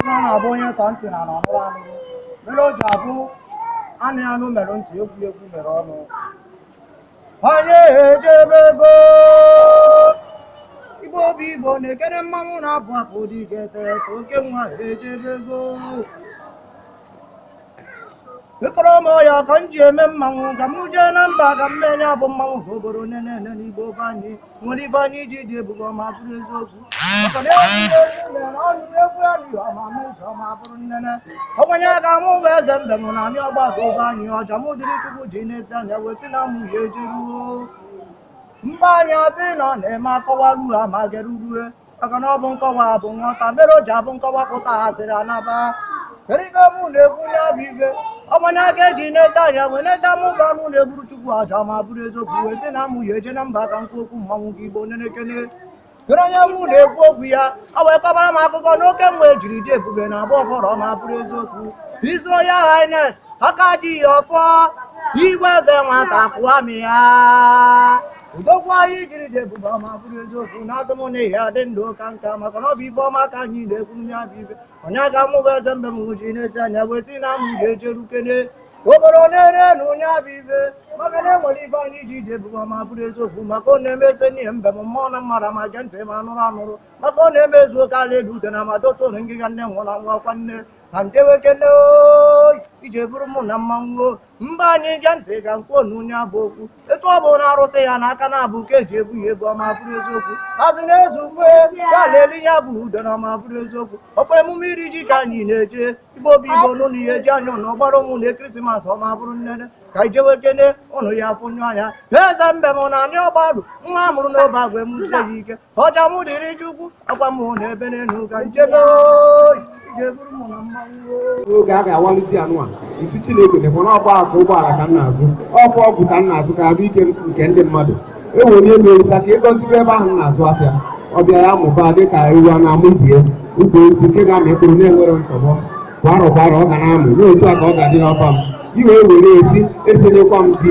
na ọ na-abụ onye tọ ntị na ọ nụrụ anụ mere o ji abụ anụ anụ mere ntị ekwu ekwu mere ọnụ anyị ejebego igbo obi igbo na-ekere mmanwụ na-abụ akụ dị ga-ete ka oke nwa ejebego ịkpọrọ m ọya ka m ji eme mmanwụ ka m jee na mba ka m mee ya bụ mmanwụ ka obodo nene ene n'igbo be anyị nwere ife anyị ji dị ebube ọma bụrụ eziokwu maka na egwu ihe ezi mere na ọnụ egwu ya dị ọma ma ụzọ ọma bụrụ nnene ọgwanye aga mụ bụ eze mbem na anyị ọgbarụ be anyị ọja mụ dịrị chukwu ji n'ezi anya wee tie na mụ ya ejeruo mba anyị ọtị nọ na-eme akọwa ruo amagerurue maka na ọ bụ nkọwa bụ nghọta mere o ji abụ nkọwa pụta asịrị anaba erika mụ na-ekwu ya bụ ibe ọmanye aka eji n'ezi anya wee na-eche ama ụba mụ na-egburu chukwu aja ma bụrụ eziokwu wee sị na mụ ya eje na mba ka m kwuo okwu mmanwụ gị igbo onye na-ekene kere onye mụ na-ekwu okwu ya ọ wee kọbara m akụkọ n'oke ibe e jiri dị ebube na agba ọhụrụ ma bụrụ eziokwu His Royal Highness aka ji ya ọfọ igwe eze nwata akụamịa udokwu anyị jiri dị ebube ọma bụrụ eziokwu na azụ m na ihe adị ndụ ka nka maka na ọ bụ ife ọma ka anyị na-ekwu nya bụ ibe onye aga mụ bụ eze mbem ji n'ezi anya wee tie na mụ ga-ejerukene obodo na-ere na onye abụ ibe maka na enwere ife anyị ji dị ebube ọma bụrụ eziokwu maka ọ na-eme eze n'ihe mbem mmụọ na mmadụ ma gee ntị ma anụrụ anụrụ maka ọ na-eme ezu oke ala elu ude na ma dotu na ngịga nne nwụrụ anwụ ọkwa nne na nke nwoke nne oyi ije bụrụ mụ na mmanwụ mba anyị ge ntị ka m kwuo nya bụ okwu etu ọ bụ na arụsị ya n'aka na-abụ ka eji ebu ya ebu ọma bụrụ eziokwu azị na-ezu ukwe ya leli ya bụ udo na ọma bụrụ eziokwu ọkwa emume iri ji ka anyị na-eje igbo obi igbo ụnụ ya eji anya na ọgbara ụmụ na ekirisimas ọma bụrụ nnene ka anyị jewe kene ụnụ ya fụnyụ anya eze mbem na anyị ọgbarụ nwa a mụrụ n'obeagwe emusie ya ike ọcha mụ dịrị chukwu akwa mụ na ebe n'elu ka nchebe oyi ije bụrụ mụ na mmanwụ oge a ga-awalite anụ a isi chineke dịkwa na ọgba akụ ụgbọala ka m na-azụ ọkwa ọgwụ ka m na-azụ ka arụ ike nke ndị mmadụ e were ihe merisa ka ị gọzibe ebe ahụ m na-azụ afịa ọ bịa ya mụba dị ka ewu a na-amụ ibie ukwu isi nke ga-amị mkpụrụ na-enwere nsogbu kwa arọ kwa arọ ọ ga na-amụ n'otu a ka ọ ga-adị n'ọba m i wee were esi esenyekwa m di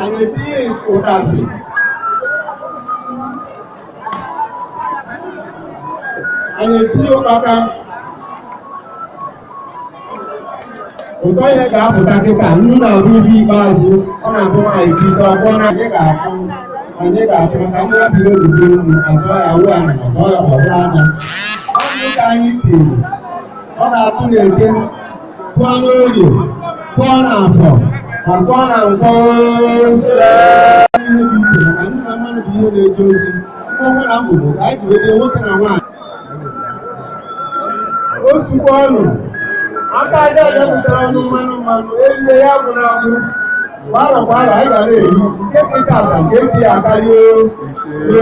anyị etinye ụtazị anyị etinye ụkpaka ụtọ ya ga-apụta kịta nnu na-abụ ife ikpeazụ ọ na-abụ nwaanyị bido ọgbọ na anyị ga-afụ anyị ga-afụ maka ndị ya biri obibi unu azọ ya awụ ya na azọ ya ọbụrụ anya ọ bụ ka anyị tiri ọ ga-atụ n'eke tụọ n'oye tụọ n'afọ ma tụọ na nkwọ ihe dị iche maka na mmadụ bụ ihe na-eje ozi mkpọmkpọ na mgbogbo ka anyị ji nwete nwoke na nwaanyị ọ sịkwanụ aka aja aja butere ọnụ mmanụ mmanụ erie ya bụ na abụ gbara gbara anyị ga na-eri nke kịta ata nke echi ya akarịa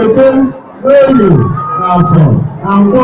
eke n'oye na afọ na nkwọ